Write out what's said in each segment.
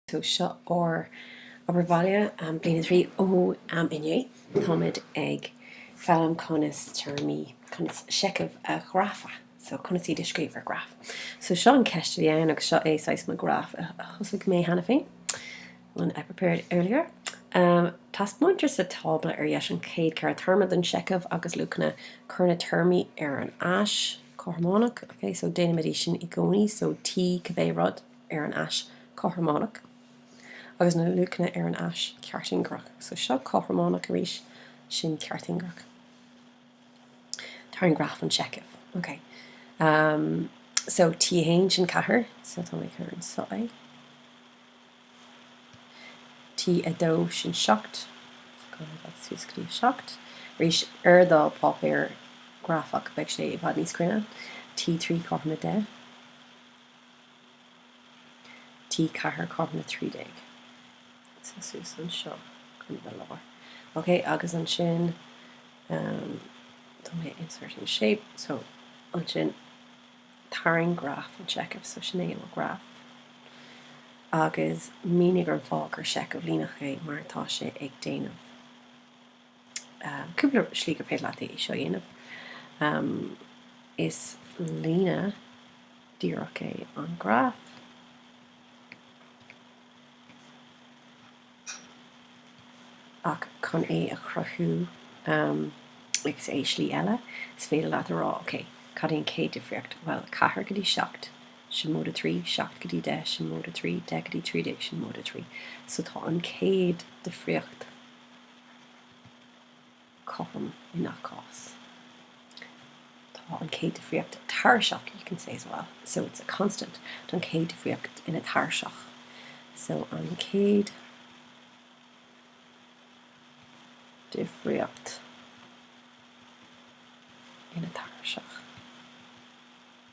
So seo ar obair bhaile bliain a trí ó inné. Táimid ag foghlaim conas téarmaí, conas seicheamh a ghrafadh. So conas iad a scríobh ar ghraf. So seo an cheist a bhí ann agus seo é saghas mo ghraf a thosaigh mé cheana féin, one I prepared earlier. Taispeáintear sa tábla ar dheis an chéad ceithre théarma den seicheamh agus luachanna. Cuir na téarmaí ar an ais cothrománach, okay? So déanaimid é sin i gcónaí, so T cibé rud. ar an ais cothrománach agus na luachanna ar an ais ceartingearach. So seo cothrománach arís, sin ceartingearach. Tarraing graf an tseicimh. Ok. Um, so T1 sin 4, so tá mé ag cur anseo é. T2 sin 7, so suas go dtí 7. Arís ar do páipéar grafach beidh sé i bhfad níos cruinne. T3 cothrom 10. T4 cothrom 13. So suas anseo chun bheith léir. Ok, agus ansin tá mé inserting shape, so ansin tarraing graf an tseichimh, so sin é mo ghraf. Agus mínigh an fáth gur seicheamh líneach é mar tá sé ag déanamh. Cúpla slí gur féidir leat é seo a dhéanamh. Is líne díreach é an graf. Ach chun é a chruthú as slí eile, is féidir leat a rá, OK, cad é an chéad difríocht? Bhuel, 4 go dtí 7, sin móide 3, 7 go dtí 10, sin móide 3, 10 go dtí 13, sin móide 3. So tá an chéad difríocht. cothrom i ngach cás. Tá an chéad difríocht tairiseach, you can say as well, so it's a constant. Tá an chéad difríocht ina tairiseach, so an chéad difríocht ina tairiseach.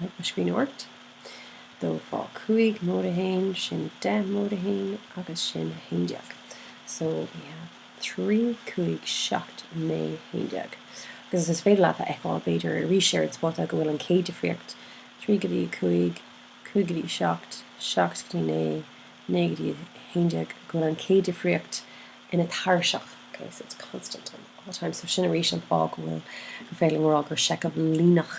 my screen worked. Dó fá cúig móide a haon, sin deich móide a haon agus sin a haon déag. So we have trí cúig seacht naoi haon déag. Agus is féidir leat a fheiceáil, b'fhéidir, arís ar an spota go bhfuil an chéad difríocht, trí go dtí a cúig, cúig go dtí a seacht, seacht go dtí naoi, naoi go dtí a haon déag, go bhfuil an chéad difríocht ina tairiseach, okay, so it's constant all the time. So sin arís an fáth go bhfuil, gur féidir linn a rá gur seicheamh líneach